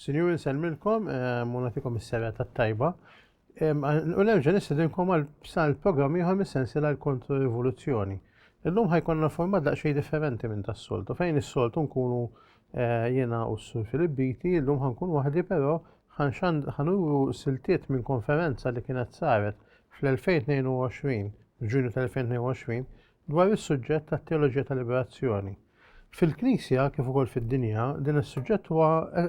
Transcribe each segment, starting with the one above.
Sinjuri nsellmilkom u nagħtikom is-serata t-tajba. U nerġa' nistedinkom għal sal programm ieħor mis-sensiela l-Kontro Rivoluzzjoni. Illum ħajkonna format daqsxejn differenti minn tas-soltu fejn is-soltu nkunu eh, jiena u s-Sur Filip Biti, illum ħankun waħdi però ħanuru siltiet minn konferenza li kienet saret fl-2022, f'Ġunju tal-2022, Dwar is-suġġett tat-teoloġija tal-liberazzjoni. Fil-Knisja kif ukoll fid-dinja, din is-suġġett huwa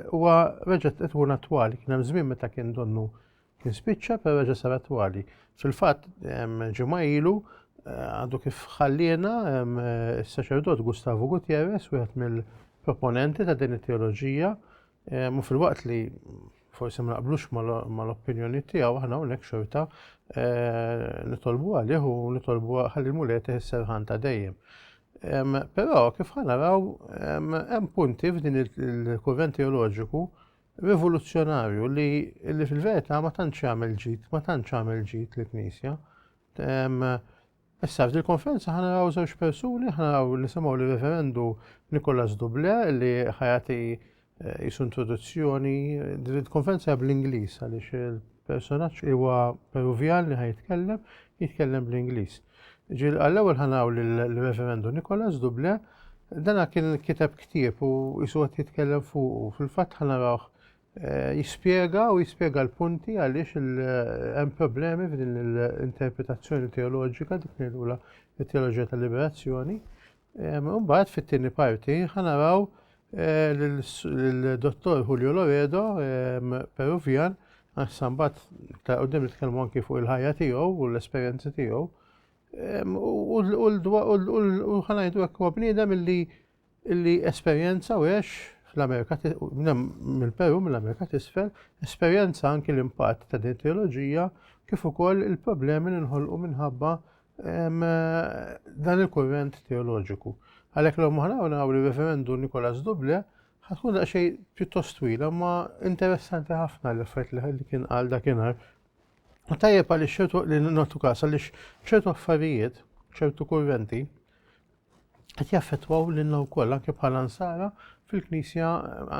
huwa reġa' qed ikun attwali. Kien hemm żmien meta kien donnu kien spiċċa per reġa' sar attwali. Fil-fatt ġimgħa ilu eh, għadu kif ħalliena eh, s-saċerdot Gustavo Gutierrez, wieħed mill-proponenti ta' din it-teoloġija, Eh, mu fil-waqt li forsi ma naqblux mal-opinjoni tiegħu aħna hawnhekk xorta eh, nitolbu għalih u nitolbu ħalli l-mulej teħisserħan ta' dejjem. Però kif ħanaraw hemm punti f'din il-kurrent teoloġiku rivoluzzjonarju li fil-verità ma tantx għamel ġid, ma tantx għamel ġid l-Knisja. Issa f'dil konferenza ħa naraw żewġ persuni, ħa naraw nisimgħu li reverendu Nicolas Duble li ħajati eh, jisu introduzzjoni. Din il-konferenza bl-Ingliż għaliex il-personaġġ huwa Peruvjan li ħajtkellem, jitkellem bl-Ingliż. Ġil għall-ewwel ħa naraw l-reverendu Nicolas Duble dana kien kiteb ktieb u jisu qed jitkellem fuq u fil-fatt ħa narawh jispjega u jispjega l-punti għaliex hemm problemi f'din l-interpretazzjoni teoloġika dik ngħidula t-teoloġija tal-liberazzjoni. Mbagħad fit-tieni parti ħanaraw l-dottor Julio Loredo, Peruvian, Sambat ta' u dim nitkellmu anki fuq il-ħajja tiegħu u l-esperjenzi tiegħu. U ħanajdu hekk huwa bniedem illi illi esperjenza u għex l-Amerika mill-Peru mill-Amerika t'Isfel, esperjenza anki l-impatt ta' din it-teoloġija kif ukoll il-problemi li nħolqu minħabba dan il-kurrent teoloġiku. Għalhekk l moħna u naraw li referendu Nikolas Duble ħatkun daqsxejn pjuttost twila ma interessanti ħafna li fejt li kien għal dakinhar. U tajjeb għaliex ċertu li notu każ għaliex ċertu affarijiet, ċertu kurrenti, qed jaffettwaw lilna wkoll anke bħala nsara fil-Knisja,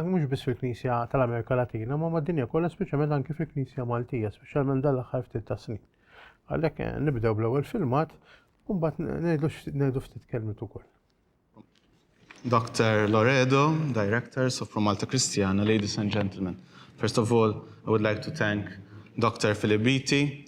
mhux biss fil-Knisja tal-Amerika Latina, ma mad-dinja kollha speċjalment anke fil-Knisja Maltija, speċjalment dan l-aħħar ftit ta' snin. Għalhekk eh, nibdew bl-ewwel filmat u mbagħad ngħidu ftit kelmiet ukoll. Dr. Loredo, Directors of Pro Malta Christiana, ladies and gentlemen. First of all, I would like to thank Dr. Filibiti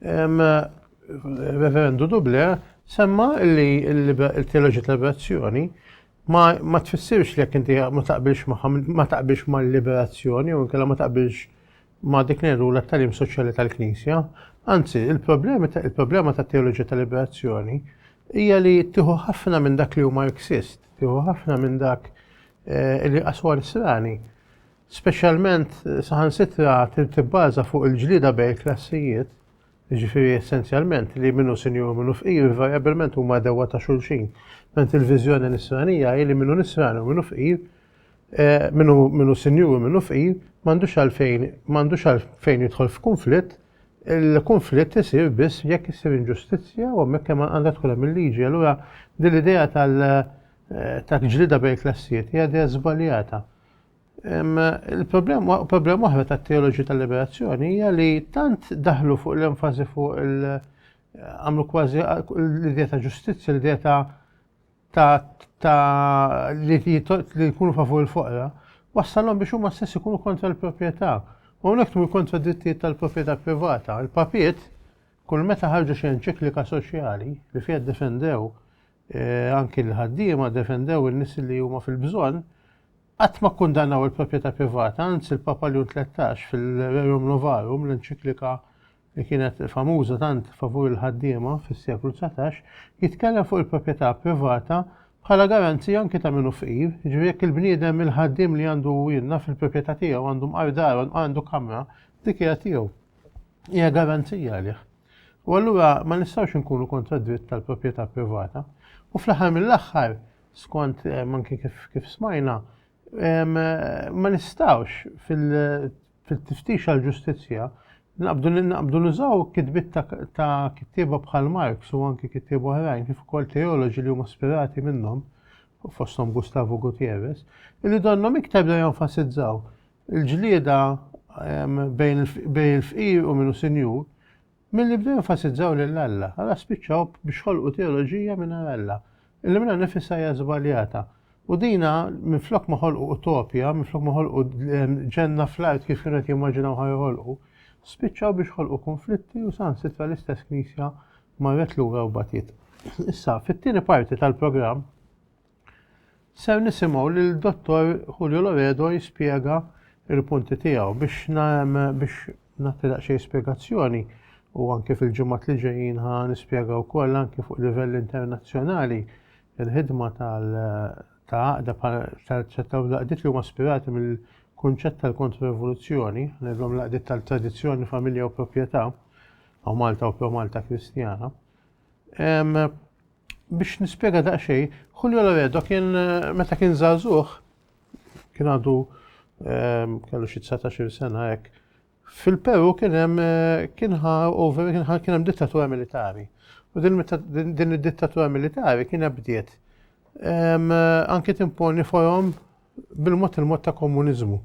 Reverendu Duble semma li l-teoloġi tal-liberazzjoni ma tfissirx li jekk inti ma taqbilx ma taqbilx mal-liberazzjoni u nkella ma taqbilx ma dik ngħidu l-talim soċjali tal-Knisja. Anzi, il-problema ta' teoloġi tal-liberazzjoni hija li tieħu ħafna minn dak li huma eksist, tieħu ħafna minn dak eh, li qaswar srani. Speċjalment saħansitra trid tibbaża fuq il-ġlieda bejn il-klassijiet, jiġifieri essenzjalment li min hu sinjur u min hu fqir invariabbilment huma għadewwa ta' xulxin, ment il-viżjoni nisranija hi li min hu nisrani u min hu fqir, min hu sinjur u min hu fqir, m'għandux għalfejn m'għandux għalfejn jidħol f'kunflitt, il-kunflitt isir biss jekk issir inġustizzja u hemmhekk hemm għandha tkun hemm il-liġi. Allura din l-idea tal-ġlieda bejn il-klassijiet hija idea żbaljata. Il-problema oħra tat-teoloġi tal-liberazzjoni hija li tant daħlu fuq l-enfasi fuq il- għamlu kważi l-idea ta' ġustizzja, l-idea ta' ta' li jkunu favur il-foqra, wassalhom biex huma stess ikunu kontra l-proprjetà. U hawnhekk tmur kontra drittijiet tal-proprjetà privata. Il-papiet kull meta ħarġu xi enċiklika soċjali li fiha defendew eh, anki l-ħaddiema defendew in-nies li huma fil-bżonn, qatt ma kkundannaw il-proprjetà privata, anzi l-Papa Leon 13 fil-Rerum Novarum, l-enċiklika li kienet famuża tant favur il-ħaddiema fis-seklu 19, jitkellem fuq il-proprjetà privata bħala garanzi anki ta' minnu fqir, ġifieri jekk il-bniedem il-ħaddim li għandu jenna fil-proprjetà tiegħu għandu mqardaron għandu kamra, dik hija tiegħu. Hija garanzija għalih. U allura ma nistgħux inkunu kontra d-dritt tal-proprjetà privata. U fl-aħħar mill-aħħar, skont eh, manki kif, kif smajna, ma nistgħux fil-tiftix għal ġustizzja naqbdu nużaw kitbit ta' kittieba bħal Marx u anki kittieba oħrajn kif ukoll teoloġi li huma spirati minnhom fosthom Gustavo Gutierrez, li donnom iktar da jenfasizzaw il-ġlieda bejn il-fqir u min hu sinjur, milli bdew jenfasizzaw lil Alla, allura spiċċaw biex ħolqu teoloġija mingħajr Alla, illi minnha nnifisha hija żbaljata. U dina minflok ma ħolqu utopja, minflok ma ħolqu ġenna fl-art kif kienu qed jimmaġinaw ħa joħolqu, spiċċaw biex ħolqu kunflitti u saħansitra l-istess Knisja marret lura u batiet. Issa, fit-tieni parti tal-programm, Ser nisimgħu lil Dottor Julio Loredo jispjega il-punti tiegħu biex biex nagħti daqsxejn spjegazzjoni u anke fil-ġimgħat li ġejjin ħa nispjega wkoll anke fuq livell internazzjonali il-ħidma tal ta' għaqda tal-ċettaw l-għaqdiet li huma ispirati mill-kunċett tal-kontroevoluzzjoni, ngħidlhom l-għaqdiet tal-tradizzjoni, familja u proprjetà, u Malta u pro Malta Kristjana. Biex nispjega daqsxejn, Julio Loredo kien meta kien żagħżugħ kien għadu ehm, kellu xi 19 sena hekk. Fil-Peru kien hemm eh, kien over kien hemm dittatura militari. U din id-dittatura militari kien bdiet ehm, anke timponi forom bil-mod il-mod ta' komuniżmu.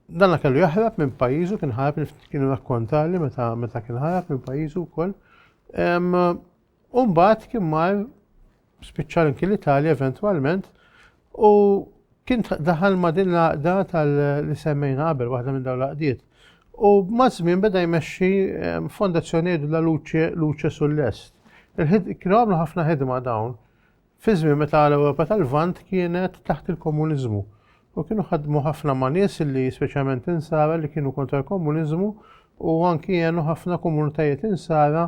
Danna kellu jaħrab minn pajizu, kien ħarab kienu rakkontali meta meta kien ħarab minn pajizu wkoll. Umbat kien mar spiċċa l l-Italja eventwalment u kien daħal ma' din l-għaqda tal-li semmejna qabel waħda minn dawn l-għaqdiet. U ma' żmien beda jmexxi fondazzjoni la luċe luċe sull-est. Kienu għamlu ħafna ħidma dawn. Fi żmien meta l-Ewropa tal-Lvant kienet taħt il-komuniżmu u kienu ħadmu ħafna ma' nies li speċjalment insara li kienu kontra l-komuniżmu u anki jenu ħafna komunitajiet insara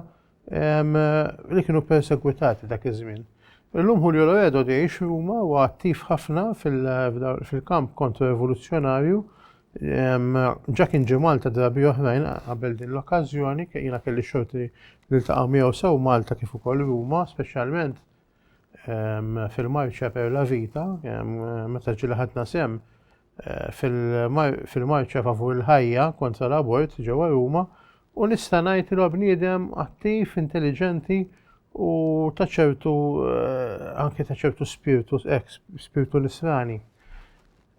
li kienu persegwitati dak iż-żmien. Illum Julio Loredo li jgħix Ruma u attiv ħafna fil-kamp kontra rivoluzzjonarju ġa kien ġi Malta drabi oħrajn qabel din l-okkażjoni jiena kelli xorti li ltaqa' miegħu sew Malta kif ukoll Ruma speċjalment fil-marċja per la vita, meta ġili ħadna sem fil-marċja favur il-ħajja kontra l-abort ġewwa Ruma u nista' ngħid li bniedem attiv, intelligenti u ta' ċertu anke ta' ċertu spirtu ex spirtu nisrani.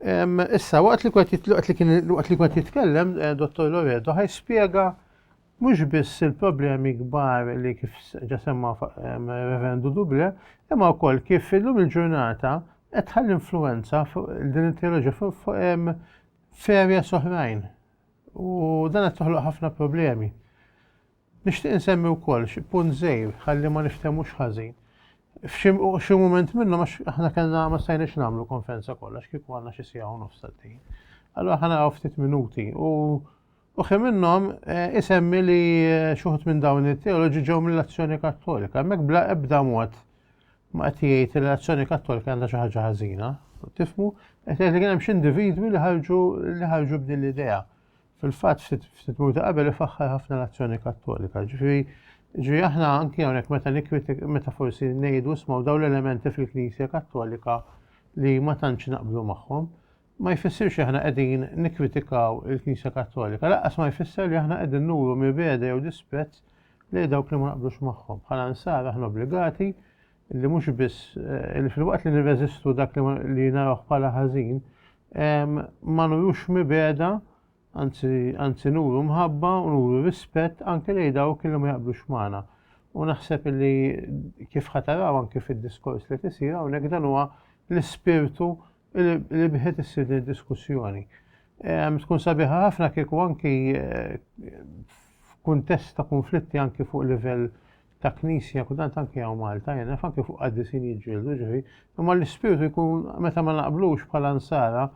Issa waqt li kwet li kien waqt li kwet jitkellem eh, Dottor Loredo ħaj spjega Mhux biss il-problemi kbar li kif ġa semma Reverendu Duble, imma wkoll kif illum il-ġurnata qed tħalli influwenza fuq din it-teoloġija fuq f'areas oħrajn. U dan qed toħloq ħafna problemi. Nixtieq insemmi wkoll xi punt żgħir ħalli ma niftehmux ħażin. F'xi mument minnhom għax aħna kellna ma stajniex nagħmlu konferenza kollha x'kieku għandna xi siegħa u nofs għaddejjin. Allura ħa naraw ftit minuti u Uħi minnhom eh, isemmi li eh, xuħut minn dawn it-teoloġi ġew mill-azzjoni kattolika. Hemmhekk bla ebda mod ma qed jgħid li l-azzjoni kattolika għandha xi ħaġa ħażina. Tifmu, qed jgħid li kien hemm xi individwi li ħarġu li ħarġu b'din l-idea. Fil-fatt ftit muta qabel ifaħħar ħafna l-azzjoni kattolika. Ġifieri ġifieri aħna anki hawnhekk meta nikkritik meta forsi ngħidu smgħu dawn l-elementi fil-Knisja Kattolika li ma tantx naqblu magħhom. ma jfissirx li aħna qegħdin nikkritikaw il-Knisja Kattolika, lanqas ma jfisser li aħna qegħdin nuru mibgħeda jew dispett lejn dawk li ma naqblux magħhom. Bħala Nsara aħna obbligati li mhux biss eh, li filwaqt li nirreżistu dak li, li narawh bħala ħażin, ma nurux mibgħeda anzi nuru mħabba u nuru rispett anke lejn dawk li ma jaqblux magħna. U naħseb li kif ħataraw anke fid-diskors li tisir hawnhekk dan huwa l-ispirtu li bħet issir din diskussjoni. Tkun sabiħa ħafna kieku anki eh, f'kuntest ta' konflitti anki fuq livell ta' knisja, kudant anki għaw Malta, jena anki fuq għaddisin jġildu ġifi, imma l-ispirtu jkun meta ma naqblux bħala nsara,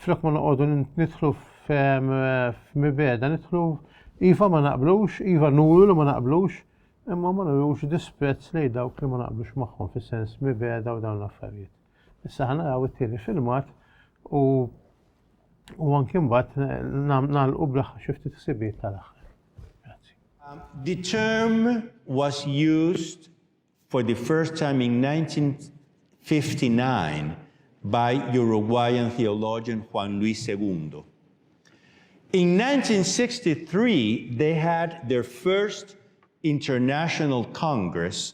flok ma noqogħdu nidħlu f'mibeda, nidħlu iva ma naqblux, iva nuru li ma naqblux, imma ma nurux disprezz lejn dawk li ma naqblux magħhom fis-sens mibeda u dawn l-affarijiet. Issa ħa naraw it-tieni filmat u u anki mbagħad nagħlqu bl-aħħar xi ftit ħsibijiet tal-aħħar. Grazzi. Um, the term was used for the first time in 1959 by Uruguayan theologian Juan Luis II. In 1963, they had their first international congress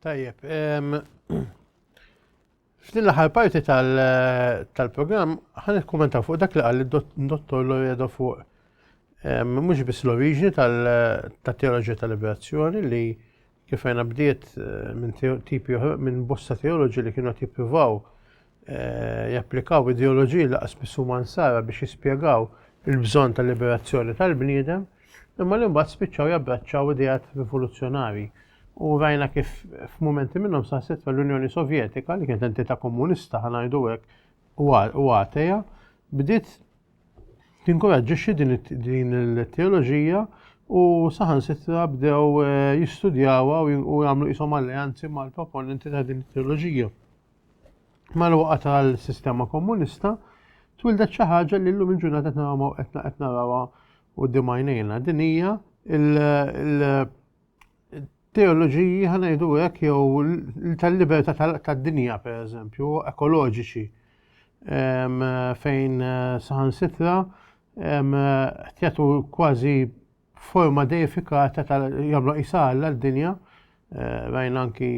Tajjeb, f'din l-aħħar parti tal-programm ħan ikkumentaw fuq dak li qal id-dottor Loredo fuq mhux biss l-oriġini tat-teoloġija tal-liberazzjoni li kif għajna bdiet minn tipi minn bosta teoloġi li kienu qed jippruvaw eh, japplikaw ideoloġiji li qasbis huma nsara biex jispjegaw il-bżonn ta' liberazzjoni tal-bniedem, imma li mbagħad spiċċaw jabbraċċaw idejat rivoluzzjonari. U rajna kif f'mumenti minnhom saħset l-Unjoni Sovjetika li kienet entità komunista ħanajdu hekk u għateja bdiet tinkoraġġixxi din il-teoloġija u saħan sitra bdew eh, jistudjawa u jagħmlu qishom alleanzi mal-proponenti ta' din it-teoloġija. mal-waqa tal-sistema komunista, twildet xi ħaġa li llum il-ġurnata qed narawha qed qed narawha quddiem għajnejna. Din hija il-teoloġiji ħanejdu hekk jew tal-libertà tad-dinja pereżempju, ekoloġiċi fejn saħansitra jagħtu kważi forma deifikata tal jagħmlu qisha Alla d-dinja eh, rajna anki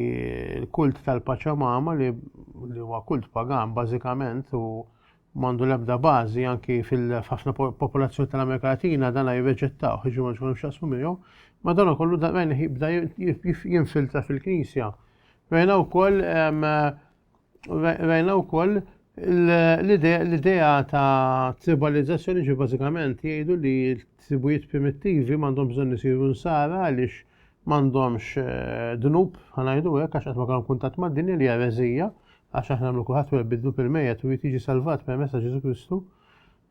l-kult tal-Paċamama li huwa kult pagan bażikament u mandu lebda bażi anki fil-ħafna popolazzjoni tal-Amerika Latina dan jirreġettaw ħiġu ma ġkunx xasmu miegħu, ma dan kollu dan jibda jinfiltra fil-Knisja. Rajna wkoll Rajna wkoll l-idea ta' tribalizzazzjoni ġi bażikament jgħidu li tribujiet primittivi m'għandhom bżonn isiru nsara għaliex m'għandhomx eh, dnub ħanajdu hekk għax qatt ma kellhom kuntatt mad-dinja li hija għax aħna nagħmlu kulħadd wieħed bidlu fil-mejjet u jiġi salvat permezz ta' Ġesu Kristu.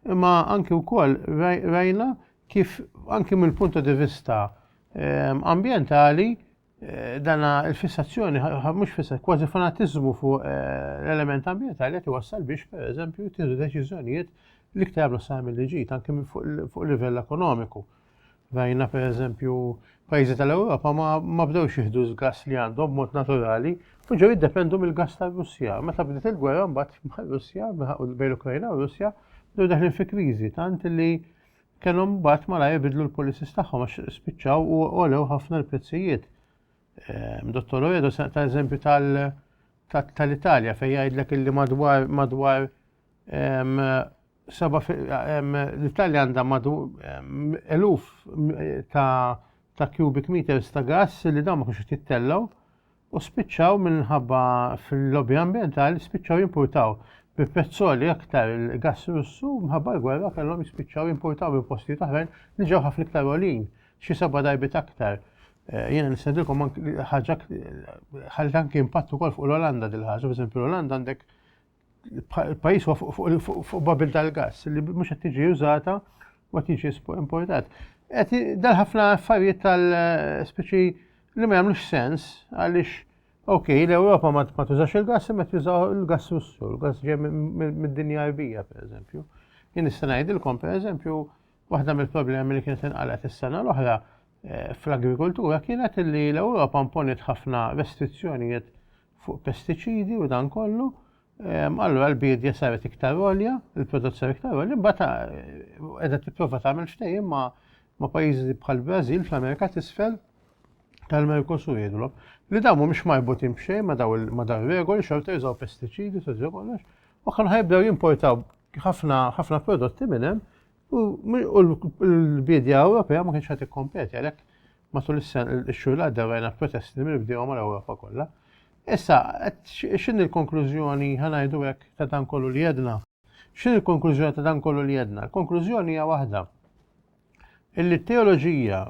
Imma anki wkoll rajna kif anki mill-punt di vista eh, ambjentali Eh, dana il-fissazzjoni, mux fissa, kważi fanatizmu fuq eh, l-element ambientali għet wassal biex, per eżempju, tiħdu deċizjonijiet li ktar jablu sa' mill ġit anke fuq livell ekonomiku. Rajna, per eżempju, pajzi tal-Europa ma bdewx jihdu z-gas li għandhom mod naturali, u ġew jiddependu mill-gas tal-Russja. Meta bdiet il-gwerra mbagħad ma' Russja, bejn l-Ukrajna u Russja, bdew daħlin fi kriżi tant li kellhom mbagħad malajr bidlu l-policies tagħhom għax spiċċaw u għolew ħafna l-prezzijiet. Ehm, Dottor Oredo se ta' eżempju tal-Italja fejn jgħidlek illi madwar madwar ehm, ehm, l-Italja għandha madwar eluf ta' cubic meters ta' gas li dawn ma kienx jittellaw u spiċċaw minħabba fil-lobby ambjentali spiċċaw jimpurtaw bi pezzoli aktar il-gass Russu minħabba l-gwerra kellhom jispiċċaw jimpurtaw minn postijiet oħrajn li ġew ħafna iktar għolin xi seba' darbit aktar. Eh, jiena nistedilkom ħaġa ħalli anke impatt ukoll fuq l-Olanda dil-ħaġa, pereżempju l-Olanda għandek il-pajis fuq babil tal-gas li mhux qed tiġi użata u qed jiġi importat. Qed dal ħafna affarijiet tal-speċi li ma jagħmlux sens għaliex ok, l-Ewropa ma tużax il-gas imma tużaw il-gas russu, il-gas ġej mid-dinja Arbija pereżempju. Jien nista' ngħidilkom pereżempju waħda mill-problemi li kienet inqalet is-sena l-oħra eh, fl-agrikoltura kienet li l-Ewropa imponiet ħafna restrizzjonijiet fuq pestiċidi u dan kollu, ehm, allura l-biedja saret iktar olja, il-prodott saret iktar olja, bata edha eh, tipprova tagħmel ftehim ma' ma' pajjiżi bħal Brażil fl-Amerika t'isfel tal-Merkosur jidhom li dawn mhumiex marbutin b'xejn ma' daw ma' daw regoli xorta jużaw pestiċidi sa kollox u kan ħajbdew jimportaw ħafna ħafna prodotti minn hemm u l-bidja Ewropea ma kienx qed ikkompeti għalhekk Matul ix-xhur li għaddew rajna protesti li mill-bdiewa mal-Ewropa kollha. Issa, x'inhi l-konklużjoni, ħa ngħidu hekk, ta' dan kollu li għedna? X'inhi l-konklużjoni ta' dan kollu li għedna? Il-konklużjoni hija waħda, illi t-teoloġija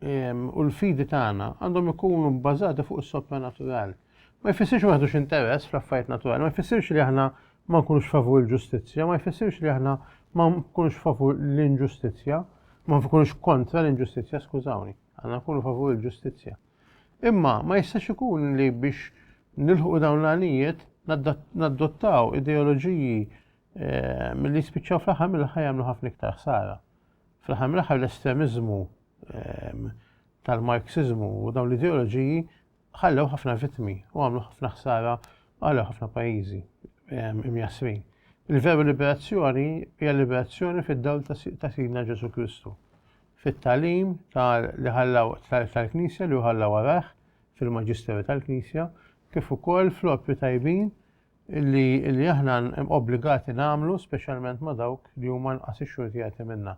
ehm, u l-fidi tagħna għandhom ikunu bbażati fuq is-sopranatural. Ma jfissirx ma ħdux interess fl-affarijiet naturali, ma jfissirx li aħna ma nkunux favur il-ġustizzja ma jfissirx li aħna ma nkunux favur l-inġustizzja, ma nkunux kontra l-inġustizzja, skużawni, għandna nkunu favur il-ġustizzja. Imma ma jistax ikun li biex nilħu dawn l-għanijiet naddottaw ideoloġiji eh, mill-li spiċċaw fl-aħħar mill-aħħar jagħmlu ħafna iktar ħsara. Fl-aħħar mill-aħħar l-estremizmu ehm, tal-Marxizmu u dawn l-ideoloġiji ħallew ħafna vittmi u għamlu ħafna ħsara għal ħafna pajjiżi ehm, imjasrin. Il-veru liberazzjoni hija liberazzjoni fid-dawl ta' Sidna Ġesu Kristu. Fit-talim li ħallaw tal-Knisja li ħallaw warah fil-Maġisteru tal-Knisja kif ukoll fl-opri tajbin li aħna obbligati nagħmlu speċjalment ma' dawk li huma nqas ixxurtijati minna.